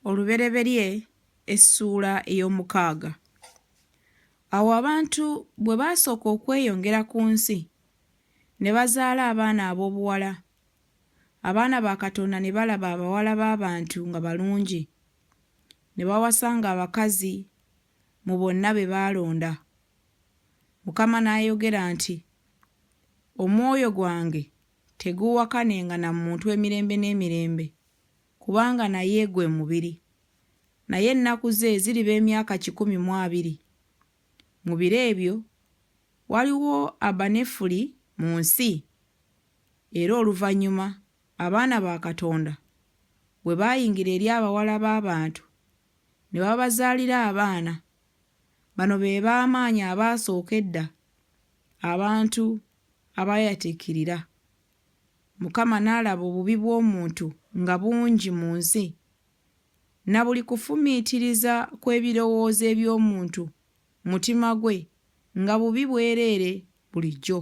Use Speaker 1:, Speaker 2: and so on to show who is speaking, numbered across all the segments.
Speaker 1: Olubereberye essuula ey'omukaaga. Awo abantu bwe baasooka okweyongera ku nsi, ne bazaala abaana ab'obuwala, abaana ba Katonda ne balaba abawala b'abantu nga balungi, ne bawasanga abakazi mu bonna be baalonda. Mukama n'ayogera nti, Omwoyo gwange teguuwakanenga na muntu emirembe n'emirembe. kubanga naye gwe mubiri, naye ennaku ze ziriba emyaka kikumi mu abiri. Mu biro ebyo waliwo Abanefuli mu nsi, era oluvannyuma abaana ba Katonda bwe baayingira eri abawala b'abantu ne babazaalira abaana, bano be b'amaanyi abaasooka edda abantu abaayatiikirira. Mukama n'alaba obubi bw'omuntu nga bungi mu nsi, na buli kufumiitiriza kw'ebirowoozo eby'omuntu mutima gwe nga bubi bwereere bulijjo.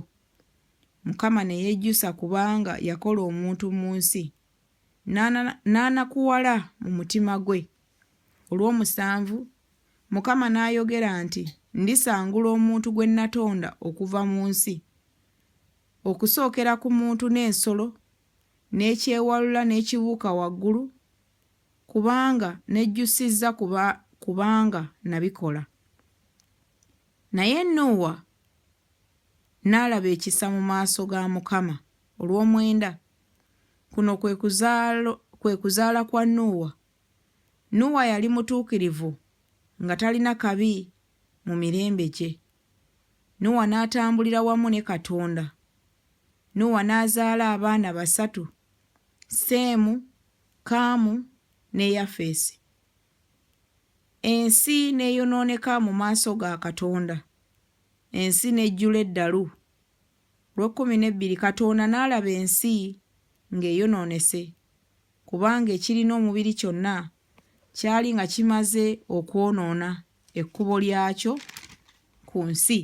Speaker 1: Mukama ne yejjusa kubanga yakola omuntu mu nsi, n'anakuwala mu mutima gwe. Olw'omusanvu, Mukama n'ayogera nti, Ndisangula omuntu gwe natonda okuva mu nsi. Okusookera ku muntu n'ensolo, n'ekyewalula n'ekibuuka waggulu, kubanga nejjusizza kuba, kubanga nabikola. Naye Nuuwa n'alaba ekisa mu maaso ga Mukama. Olw'omwenda, kuno kwe kuzaalo, kwe kuzaala kwa Nuuwa. Nuuwa yali mutuukirivu, nga talina kabi mu mirembe gye. Nuwa n'atambulira wamu ne Katonda. Nuwa n'azaala abaana basatu, Seemu, Kaamu, ne Yafeesi. Ensi n'eyonooneka mu maaso ga Katonda. Ensi n'ejjula eddalu. Lw'ekkumi n'ebbiri, Katonda n'alaba ensi ng'eyonoonese, kubanga ekirina omubiri kyonna kyali nga kimaze okwonoona ekkubo lyakyo ku nsi.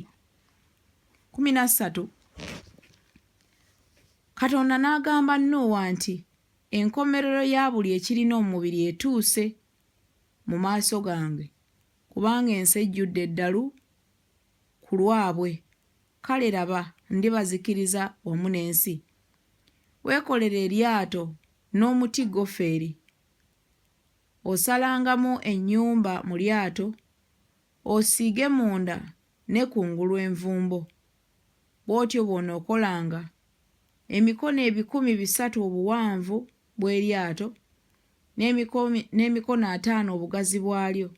Speaker 1: Kkumi na ssatu, Katonda n'agamba Nuuwa nti, Enkomerero ya buli ekirina omubiri etuuse mu maaso gange, kubanga ensi ejjudde eddalu ku lwabwe. Kale laba, ndibazikiriza wamu n'ensi. Weekolere eryato n'omuti gofeeri. Osalangamu ennyumba mu lyato, osiige munda ne kungulu envumbo. Bw'otyo bw'onookolanga, emikono ebikumi bisatu obuwanvu bw'eryato, n'emikono ataano obugazi bwalyo,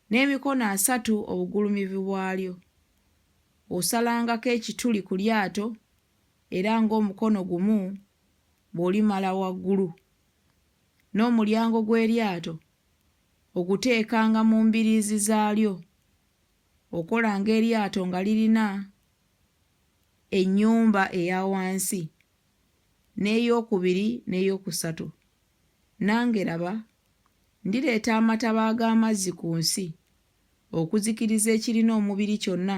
Speaker 1: n'emikono asatu obugulumivu bwalyo. Osalangako ekituli ku lyato era ng'omukono gumu bw'olimala waggulu. N'omulyango gw'eryato oguteekanga mu mbiriizi zaalyo. Okolanga eryato nga lirina ennyumba eya wansi, n'eyookubiri n'eyookusatu. Nange laba Ndireeta amataba ag'amazzi ku nsi okuzikiriza ekirina omubiri kyonna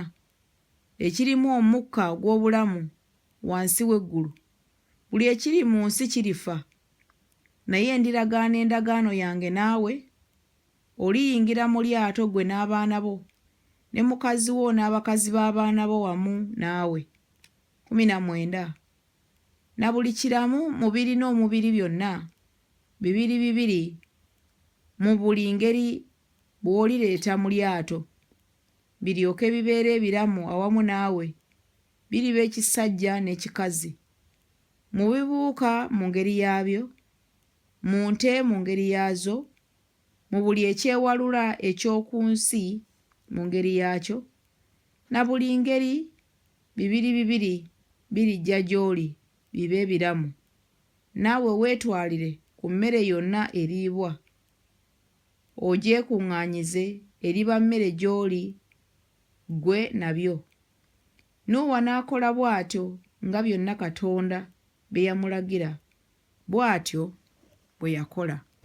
Speaker 1: ekirimu omukka ogw'obulamu wansi w'eggulu. Buli ekiri mu nsi kirifa. Naye ndiragaana endagaano yange naawe, oliyingira mu lyato ggwe n'abaana bo, ne mukazi wo n'abakazi b'abaana bo wamu naawe. kumi na mwenda. Na buli kiramu mu birina omubiri byonna, bibiri bibiri mu buli ngeri bw'olireeta mu lyato, biryoke bibeere ebiramu awamu naawe, biriba ekisajja n'ekikazi, mu bibuuka mu ngeri yaabyo, mu nte mu ngeri yaazo, mu buli ekyewalula eky'oku nsi mu ngeri yaakyo, Na buli ngeri, bibiri bibiri birijja gy'oli bibe biramu. Naawe weetwalire ku mmere yonna eriibwa, ogyekuŋŋaanyize, eriba mmere gy'oli ggwe nabyo. Nuuwa n'akola bw'atyo nga byonna Katonda bye yamulagira, bw'atyo bwe yakola.